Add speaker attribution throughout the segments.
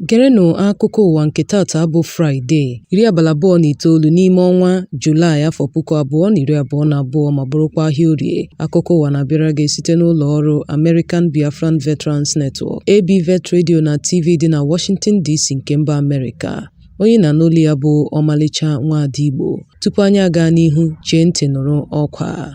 Speaker 1: Gerenụ akụkọ ụwa nke taata bụ Fraịde, iri abalị abụọ na itoolu n'ime ọnwa Julaị afọ puku abụọ na iri abụọ na abụọ ma bụrụkwa ahịa orie. Akụkọ ụwa na-abịara gị site n'ụlọ ọrụ American Biafran Veterans Network, ABVET Radio na TV dị na Washington DC nke mba Amerịka. Onye ị na-anụ olu ya bụ ọmalịcha nwaada Igbo. Tupu anyị aga n'ihu, chee ntị nụrụ ọkwa a.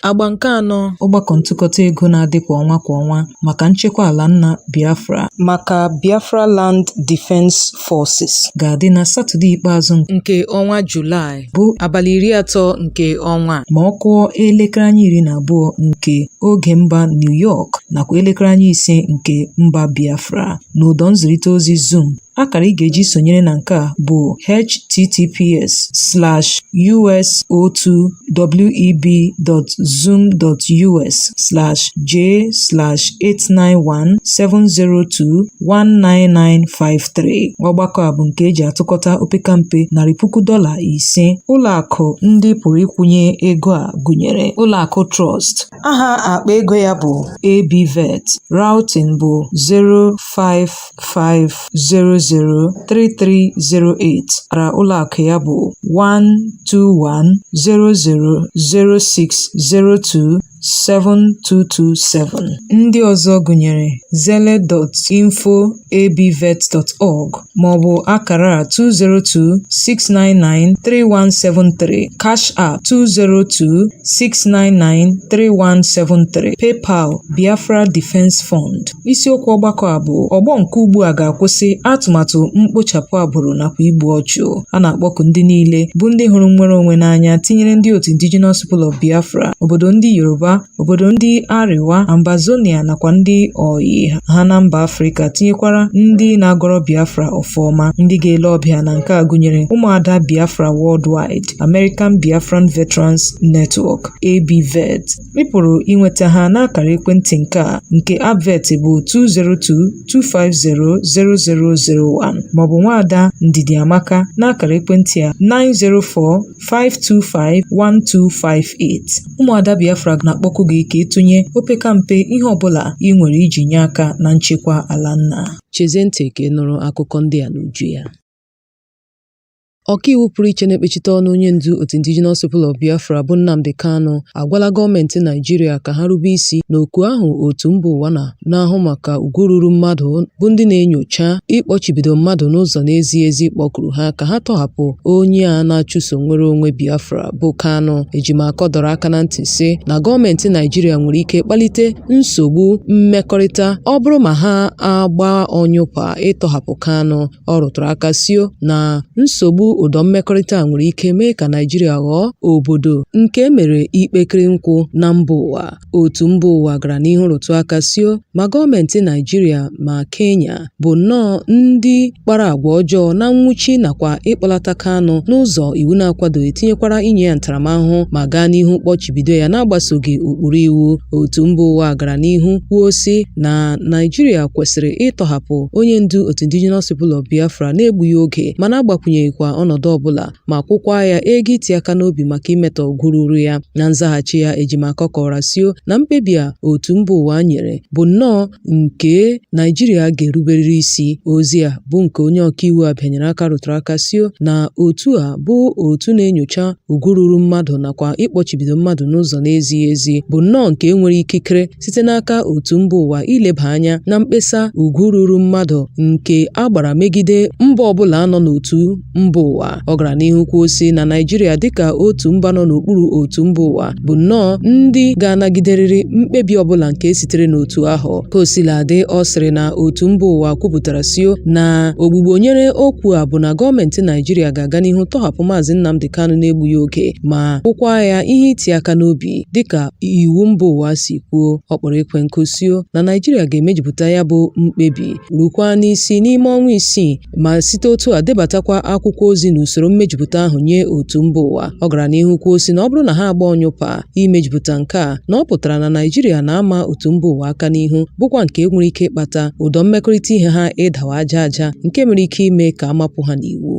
Speaker 1: Agba nke anọ ọgbakọ ntụkọta ego na-adị kwa ọnwa kwa ọnwa maka nchekwa ala nna Biafra maka Biafra Land Defense Forces ga-adị na Satọde ikpeazụ nke ọnwa Julaị bụ abalị iri atọ nke ọnwa ma ọ kụọ elekere anya iri na abụọ nke oge mba New York nakwa elekere anya ise nke mba Biafra n'ụdọ nzirịta ozi Zoom Akara ị ga-eji sonyere na nke a bụ https://us.web.zoom.us/j/89170219953. Ọgbakọ a bụ nke e ji atụkọta opekampe narị puku dọla ise. Ụlọakụ ndị pụrụ ịkwụnye ego a gụnyere Ụlọakụ Trust, Aha akpa ego ya bụ ABVET, routing bụ 055003308, akara ụlọakụ ya bụ 1210006027227. Ndị ọzọ gụnyere Zelle, info@abvet.org. maọbụ akara 202-699-3173, Cash App 202-699-3173, PayPal, Biafra Defense Fund. Isiokwu ọgbakọ a bụ ọgbọ nke ugbu a ga-akwụsị atụmatụ mkpochapụ agbụrụ nakwa igbu ọchụ. A na-akpọku ndị niile bụ ndị hụrụ nnwere onwe n'anya tinyere ndị otu Indigenous People of Biafra, obodo ndị Yoruba, obodo ndị Arewa, Ambazonia nakwa ndị ọyị ha na mba Afrịka tinyekwara ndị na-agọrọ Biafra ọfọ ọma. Ndị ga-ele ọbịa na nke a gụnyere ụmụada Biafra Worldwide, American Biafran Veterans Network, ABVET. Ị pụrụ inweta ha n'akara ekwentị nke a nke ABVET bụ 202-250-0001 maọbụ nwaada Ndidi Amaka n'akara ekwentị a 904 5251258 ụmụada Biafra na-akpọku gị ka ị tụnye opekampe ihe ọbụla i nwere iji nye aka na nchekwa ala nna chezie ntị ka ị nụrụ akụkọ ndị a n'uju ya Ọkaiwu pụrụ iche na-ekpechite ọnụ onye ndu otu Indigenous People of Biafra bụ Nnamdi Kanu agwala gọọmenti Naịjirịa ka ha rube isi n'oku ahụ otu mba ụwa na na-ahụ maka ugwu ruru mmadụ bụ ndị na-enyocha ịkpọchibido mmadụ n'ụzọ na-ezighị ezi kpọkuru ha ka ha tọhapụ onye a na-achụso nnwere onwe Biafra bụ Kanu. Ejimakor dọrọ aka na ntị sị na gọọmenti Naijiria nwere ike kpalite nsogbu mmekọrịta ọ bụrụ ma ha agba ọnyụpa ịtọhapụ Kanu. Ọ rụtụrụ aka sio na nsogbu ụdọ mmekọrịta nwere ike mee ka Naijiria ghọọ obodo nke e mere ikpekere nkwụ na mba ụwa. Otu mba ụwa gara n'ihu rụtụ aka sio ma gọọmentị Naịjirịa ma Kenya bụ nnọọ ndị kpara agwa ọjọọ na nwụchi nakwa ịkpọlata Kanu n'ụzọ iwu na-akwadoghị tinyekwara inye ya ntaramahụhụ ma gaa n'ihu kpọchibido ya na-agbasoghị ụkpụrụ iwu. Otu mba ụwa gara n'ihu kwuo sị na Naịjirịa kwesịrị ịtọhapụ onye ndu otu Indigenous People of Biafra na-egbughị oge ma na-agbakwụnyeghịkwa ọnọdụ ọbụla ma kwụkwa ya ego iti aka n'obi maka imetọ ugwu ruru ya. Na nzaghachi ya, Ejimakọ kọwara sio na mkpebi a otu mba ụwa nyere bụ nnọọ nke Naijiria ga-eruberịrị isi. Ozi a bụ nke onye ọkaiwu a bịanyere aka rụtụrụ aka sio na otu a bụ otu na-enyocha ugwu ruru mmadụ nakwa ịkpọchibido mmadụ n'ụzọ na-ezighị ezi bụ nnọọ nke e nwere ikikere site n'aka otu mba ụwa ileba anya na mkpesa ugwu ruru mmadụ nke a gbara megide mba ọbụla nọ n'otu mba ụwa ọ gara n'ihu kwuo sị na Naịjirịa dịka otu mba nọ n'okpuru otu mba ụwa bụ nnọọ ndị ga-anagiderịrị mkpebi ọbụla nke sitere n'otu ahụ ka o sila dị ọ sịrị na otu mba ụwa kwupụtara sio na ogbugbo nyere okwu a bụ na gọọmenti Naịjirịa ga-aga n'ihu tọhapụ maazị Nnamdi Kanu na-egbughị oge ma kwụkwa ya ihe iti aka n'obi Dịka iwu mba ụwa si kwuo, ọ kpọrọ ekwe nkụ sio na Naịjirịa ga-emejupụta ya bụ mkpebi rukwaa n'isi n'ime ọnwa isii ma site otu a debatakwa akwụkwọ ozi n'usoro mmejupụta ahụ nye otu mba ụwa. Ọ gara n'ihu kwuo sị na ọ bụrụ na ha agba ọnyụpa imejupụta nke a, na ọ pụtara na Naịjirịa na-ama otu mba ụwa aka n'ihu bụkwa nke nwere ike ịkpata ụdọ mmekọrịta ihe ha ịdawa aja aja nke nwere ike ime ka a mapụ ha n'iwu.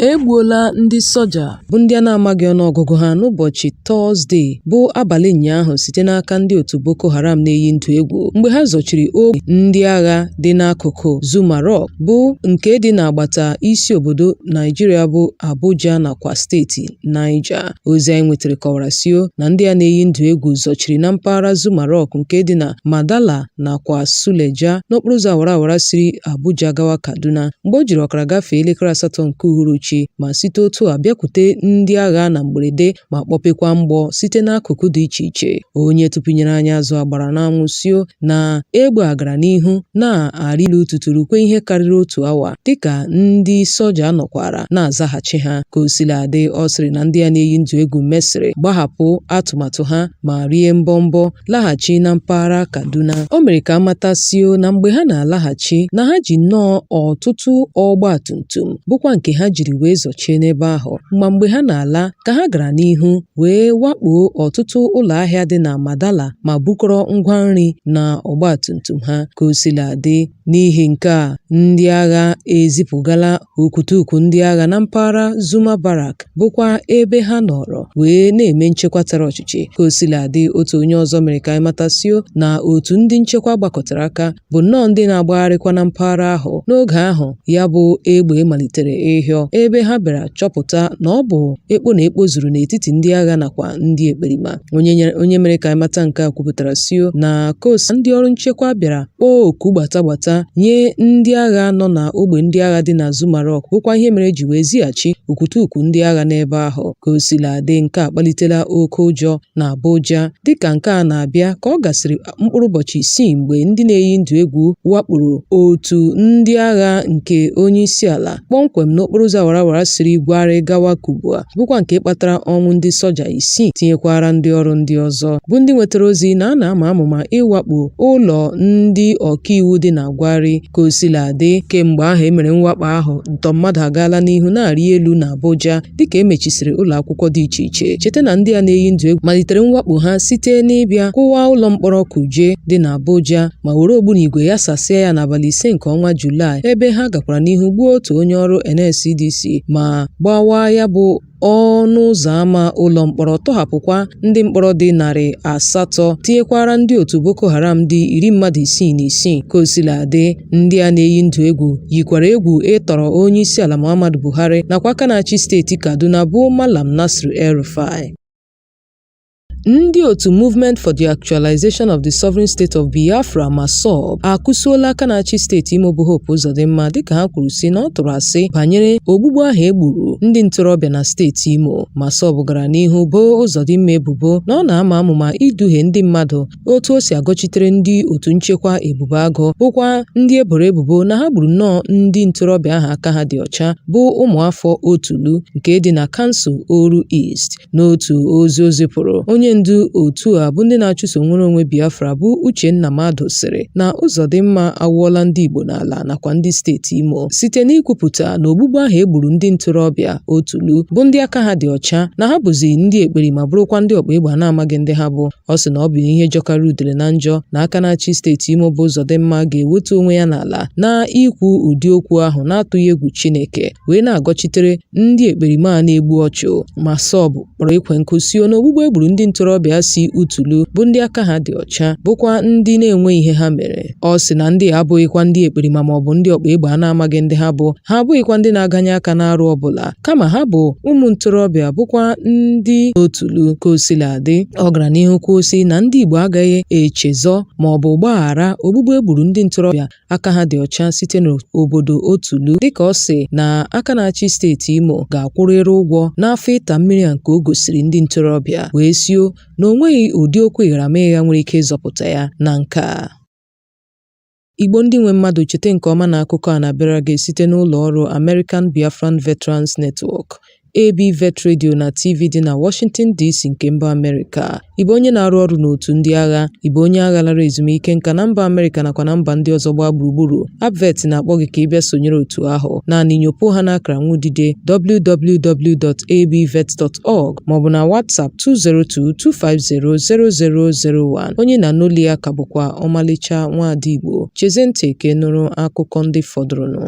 Speaker 1: E gbuola ndị soja bụ ndị a na-amaghị ọnụọgụgụ ha n'ụbọchị Tọọzde bụ abalị ụnyaahụ site n'aka ndị otu Boko Haram na-eyi ndụ egwu mgbe ha zọchiri ogwe ndị agha dị n'akụkụ Zuma Rock bụ nke dị n'agbata isi obodo Naijiria bụ Abuja nakwa steeti Niger. Ozi anyị nwetara kọwara sio na ndị a na-eyi ndụ egwu zọchiri na mpaghara Zuma Rock nke dị na Madala nakwa Suleja n'okporoụzọ awara awara siri Abuja gawa Kaduna mgbe o jiri ọkara gafee elekere asatọ nke uhuruchi ma site otu a bịakwute ndị agha na mgberede ma kpọpekwa mgbọ site n'akụkụ dị iche iche. Onye tụpụnyere anyị azụ a gbara n'anwụ sio na egbe a gara n'ihu na-arị elu tutu rukwaa ihe karịrị otu awa dịka ndị soja nọkwara na-azaghachi ha. Ka o sila dị, ọ sịrị na ndị a na-eyi ndụ egwu mesịrị gbahapụ atụmatụ ha ma rie mbọmbọ laghachi na mpaghara Kaduna. O mere ka amata sio na mgbe ha na-alaghachi na ha ji nnọọ ọtụtụ ọgba tum tum bụkwa nke ha jiri wee zọchie n'ebe ahụ ma mgbe ha na-ala ka ha gara n'ihu wee wakpoo ọtụtụ ụlọ ahịa dị na Madala ma bukọrọ ngwa nri na ọgba tum tum ha ka o sila dị n'ihi nke a ndị agha ezipụgala Okwutukwu ndị agha na mpaghara Zuma Barrack bụkwa ebe ha nọrọ wee na-eme nchekwa tara ọchịchị. Ka o sila dị, otu onye ọzọ mere ka anyị mata sio na otu ndị nchekwa gbakọtara aka bụ nnọọ ndị na-agbagharịkwa na mpaghara ahụ n'oge ahụ ya bụ egbe malitere ịhịọ, ebe ha bịara chọpụta na ọ bụ ekpo na ekpo zuru n'etiti ndị agha nakwa ndị ekperima. Onye mere ka anyị mata nke a kwupụtara sio na ka o si ndị ọrụ nchekwa bịara kpọọ oku gbata gbata nye ndị agha nọ na ogbe ndị agha dị na Zuma Rock bụkwa ihe mere e ji wee zighachi okwutukwu ndị agha n'ebe ahụ. Ka o sila dị nke a akpalitela oke ụjọ na Abuja dịka nke a na-abịa ka ọ gasịrị mkpụrụ ụbọchị isii mgbe ndị na-eyi ndụ egwu wakporo otu ndị agha nke onye isi ala kpọmkwem n'okporo ụzọ awara awara siri Bwari gawa Kubwa bụkwa nke kpatara ọnwụ ndị soja isii tinyekwara ndị ọrụ ndị ọzọ bụ ndị nwetara ozi na a na-ama amụma ịwakpo ụlọ ndị ọkaiwu dị na Bwari ka o sila dị kemgbe ahụ e mere mwakpo ahụ ntọ mmadụ agaala n'ihu na-arị elu na Abuja dịka e mechisiri ụlọ akwụkwọ dị iche iche cheta na ndị a na-eyi ndụ egwu malitere mwakpo ha site n'ịbịa kụwaa ụlọ mkpọrọ Kuje dị n'Abuja ma were ogbunigwe yasasịa ya n'abalị ise nke ọnwa Julaị ebe ha gakwara n'ihu gbuo otu onye ọrụ NSCDC ma gbawaa ya bụ ọnụ ụzọ ámá ụlọ mkpọrọ tọhapụkwa ndị mkpọrọ dị narị asatọ tinyekwara ndị otu Boko Haram dị iri mmadụ isii na isii ka o sila dị Ndị a na-eyi ndụ egwu yikwara egwu ịtọrọ onyeisiala Muhammadu Buhari nakwa aka na-achị steeti Kaduna bụ Malam Nasir El-Rufai. Ndị otu Movement for the Actualization of the Sovereign State of Biafra (MASSOB) akụsuola aka na-achị steeti Imo bụ Hope Uzodinma dịka ha kwuru sị na ọ tụrụ asị banyere ogbugbu ahụ e gburu ndị ntorobịa na steeti Imo. MASSOB gara n'ihu boo Uzodinma ebubo na ọ na-ama amụma iduhie ndị mmadụ otu o si agọchitere ndị otu nchekwa Ebube Agụ bụkwa ndị e boro ebubo na ha gburu nnọọ ndị ntorobịa ahụ aka ha dị ọcha bụ ụmụafọ Otulu nke dị na kansụl Oru East. N'otu ozi o zipụrụ, onye ndu otu a bụ ndị na-achụso nnwere onwe Biafra bụ Uchenna Madụ sịrị na Ụzọdịmma awụọla ndị Igbo n'ala nakwa ndị steeti Imo site n'ikwupụta na ogbugbu ahụ e gburu ndị ntorobịa Otulu bụ ndị aka ha dị ọcha na ha bụzi ndị ekperima bụrụkwa ndị ọkpa egbe a na-amaghị ndị ha bụ Ọ sị na ọ bụ ihe jọkarị udele na njọ na aka na-achị steeti Imo bụ Uzodimma ga-ewetu onwe ya n'ala na ikwu ụdị okwu ahụ na-atụghị egwu Chineke wee na-agọchitere ndị ekperima na-egbu ọchụ. MASSOB kpọrọ ekwe nkụ sio na ogbugbu e gburu ndị ntorobịa si Otulu bụ ndị aka ha dị ọcha bụkwa ndị na-enweghị ihe ha mere. Ọ sị na ndị a abụghịkwa ndị ekperima maọbụ ndị ọkpa egbe a na-amaghị ndị ha bụ, ha abụghịkwa ndị na-aganye aka n'arụ ọbụla, kama ha bụ ụmụ ntorobịa bụkwa ndị Otulu. Ka o sila dị, ọ gara n'ihu kwuo sị na ndị Igbo agaghị echezọ maọbụ gbaghara ogbugbu e gburu ndị ntorobịa aka ha dị ọcha site n'obodo Otulu dịka ọ sị na aka na-achị steeti Imo ga-akwụrịrị ụgwọ n'afọ ịta mmiri a nke o gosiri ndị ntorobịa wee sio na o nweghị ụdị okwu ịgharamịgha nwere ike ịzọpụta ya na nke a. Igbo ndị nwe mmadụ chete nke ọma na akụkọ a na-abịara gị site n'ụlọ ọrụ American Biafran Veterans Network, AB Vet Radio na TV dị na Washington DC nke mba Amerịka. Ị bụ onye na-arụ ọrụ n'otu ndị agha, ị bụ onye agha lara ezumike nka na mba Amerịka nakwa na mba ndị ọzọ gbaa gburugburu, Abvet na-akpọ gị ka ị bịa sonyere otu ahụ. Naanị nyopuo ha n'akara nwudide www.abvet.org maọbụ na WhatsApp 202-250-0001. Onye na-anọli ya ka bụkwa ọmalịcha nwaada Igbo. Chezie ntị ka ị nụrụ akụkọ ndị fọdụrụnụ.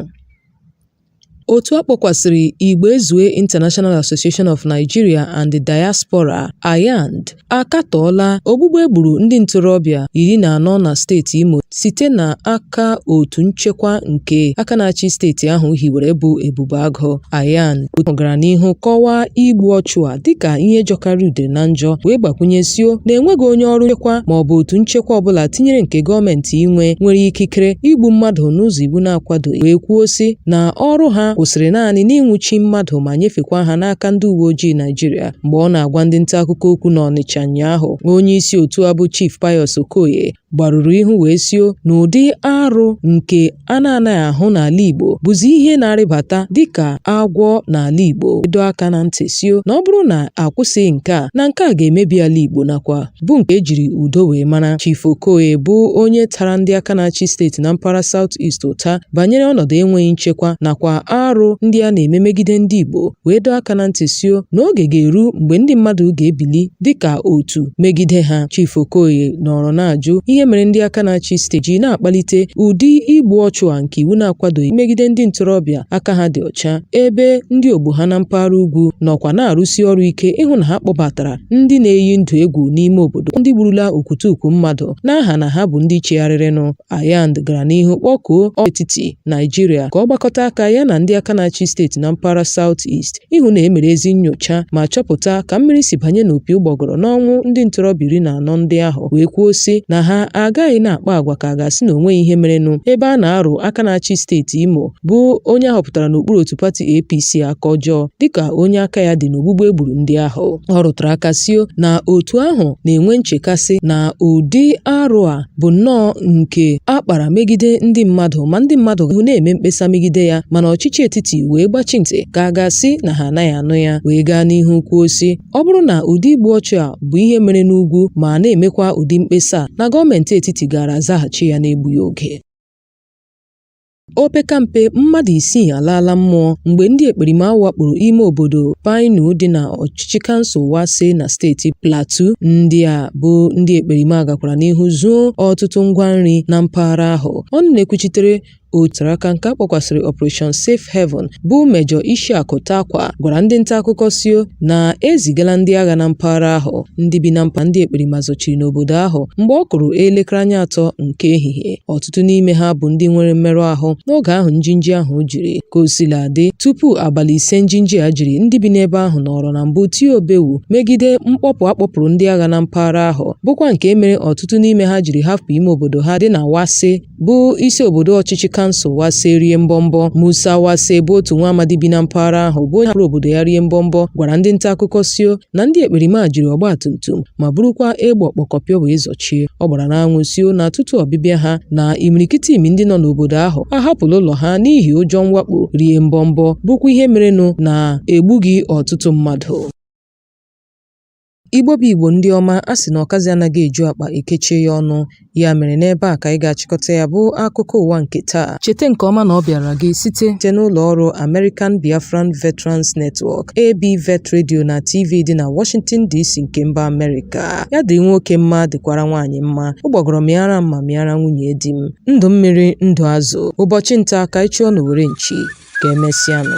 Speaker 1: Otu a kpọkwasịrị Igbo Ezue International Association of Nigeria and the Diaspora (IAND) akatọọla ogbugbu e gburu ndị ntorobịa iri na anọ na steeti Imo site n'aka otu nchekwa nke aka na-achị steeti ahụ hiwere bụ Ebube Agụ. IAND gara n'ihu kọwaa igbu ọchụ a dịka ihe jọkarị udele na njọ wee gbakwunye sio na enweghị onye ọrụ nchekwa ma ọ bụ otu nchekwa ọbụla tinyere nke gọọmenti nwe nwere ikikere igbu mmadụ n'ụzọ iwu na-akwadoghị wee kwuo sị na ọrụ ha kwụsịrị naanị n'ịnwụchi mmadụ ma nyefekwa ha n'aka ndị uwe ojii Naịjirịa mgbe ọ na-agwa ndị nta akụkọ okwu n'Ọnịcha ụnyaahụ onye isi otu a bụ Chief Pius Okoye gbarụrụ ihu wee sio na ụdị arụ nke a na-anaghị ahụ n'ala Igbo bụzi ihe na-arịbata dịka agwọ n'ala Igbo wee doo aka na ntị sio na ọ bụrụ na a kwụsịghị nke a na nke a ga-emebi ala Igbo nakwa bụ nke e jiri udo wee mara Chief Okoye bụ onye tara ndị aka na-achị steeti na mpaghara South East ụta banyere ọnọdụ enweghị nchekwa nakwa arụ ndị a na-eme megide ndị Igbo wee doo aka na ntị sio na oge ga-eru mgbe ndị mmadụ ga-ebili dịka otu megide ha Chief Okoye nọrọ na-ajụ ihe mere ndị aka na-achị steeti ji na-akpalite ụdị igbu ọchụ a nke iwu na-akwadoghị megide ndị ntorobịa aka ha dị ọcha ebe ndị ogbo ha na mpaghara ugwu nọkwa na-arụsi ọrụ ike ịhụ na ha kpọbatara ndị na-eyi ndụ egwu n'ime obodo ndị gburula okwutukwu mmadụ n'aha na ha bụ ndị chegharịrịnụ Ayand gara n'ihu kpọkuo etiti Naịjirịa ka ọ gbakọta aka ya na ndị aka na-achị steeti na mpaghara South East ịhụ na e mere ezi nnyocha ma chọpụta ka mmiri si banye n'opi ụgbọgọrọ n'ọnwụ ndị ntorobịa iri na anọ ndị ahụ wee kwuo sị na ha agaghị na-akpa agwa ka a ga-asị na o nweghị ihe merenụ ebe a na-arụ aka na-achị steeti Imo bụ onye a họpụtara n'okpuru otu pati APC aka ọjọọ dịka onye aka ya dị n'ogbugbu e gburu ndị ahụ ọ rụtara aka sio na otu ahụ na-enwe nchekasị na ụdị arụ a bụ nnọọ nke a kpara megide ndị mmadụ ma ndị mmadụ ahụ na-eme mkpesa megide ya mana ọchịchị etiti wee gbachi ntị ka a ga-asị na ha anaghị anụ ya wee gaa n'ihu kwuo sị ọ bụrụ na ụdị igbu ọchụ a bụ ihe mere n'ugwu ma na-emekwa ụdị mkpesa a na gọọmenti etiti gaara azaghachi ya n'egbughị oge Opekampe mmadụ isii alaala mmụọ mgbe ndị ekperima wakporo ime obodo Pinau dị na ọchịchị kansụl Wase na steeti Plateau. Ndị a bụ ndị ekperima gakwara n'ihu zuo ọtụtụ ngwa nri na mpaghara ahụ. Ọnụ na-ekwuchitere otara aka nke a kpọkwasịrị Operation Safe Haven bụ Mejọ Ishaku Takwa gwara ndị nta akụkọ sio na e zigala ndị agha na mpaghara ahụ ndị bi na mpa ndị ekperima zọchiri n'obodo ahụ mgbe ọ kụrụ elekere anya atọ nke ehihie. ọtụtụ n'ime ha bụ ndị nwere mmerụ ahụ n'oge ahụ njinji ahụ jiri ka o sila dị tupu abalị ise njinji a jiri ndị bi n'ebe ahụ nọrọ na mbụ tie obewu megide mkpọpụ a kpọpụrụ ndị agha na mpaghara ahụ bụkwa nke mere ọtụtụ n'ime ha jiri hapụ ime obodo ha dị na Wase bụ isi obodo ọchịchị kansụl Wase rie mbọmbọ Musa Wase bụ otu nwa amadi bi na mpaghara ahụ bụ onye hapụrụ obodo ya rie mbọmbọ gwara ndị nta akụkọ sio na ndị ekperima jiri ọgba tum tum ma burukwa egbe ọkpọkọpịọ wee chie ọ gbara n'anwụ sio na tutu ọbịbịa ha na imirikiti imi ndị nọ n'obodo ahụ ahapụla ụlọ ha n'ihi ụjọ mwakpo rie mbọmbọ bụkwa ihe merenụ na e gbughị ọtụtụ mmadụ Igbo bụ Igbo ndị ọma, a sị na ọkazi anaghị eju akpa e kechie ya ọnụ, ya mere n'ebe a ka anyị ga-achịkọta ya bụ akụkọ ụwa nke taa. Cheta nke ọma na ọ bịaara gị site site n'ụlọ ọrụ American Biafran Veterans Network, ABVET Radio na TV dị na Washington DC nke mba Amerịka. ya dị nwoke mma dịkwara nwaanyị mma ụgbọgọrọ mịara m ma mịara nwunye di m ndụ mmiri ndụ azụ ụbọchị nta ka anyị chụọ n'owere nchi ka emesịanụ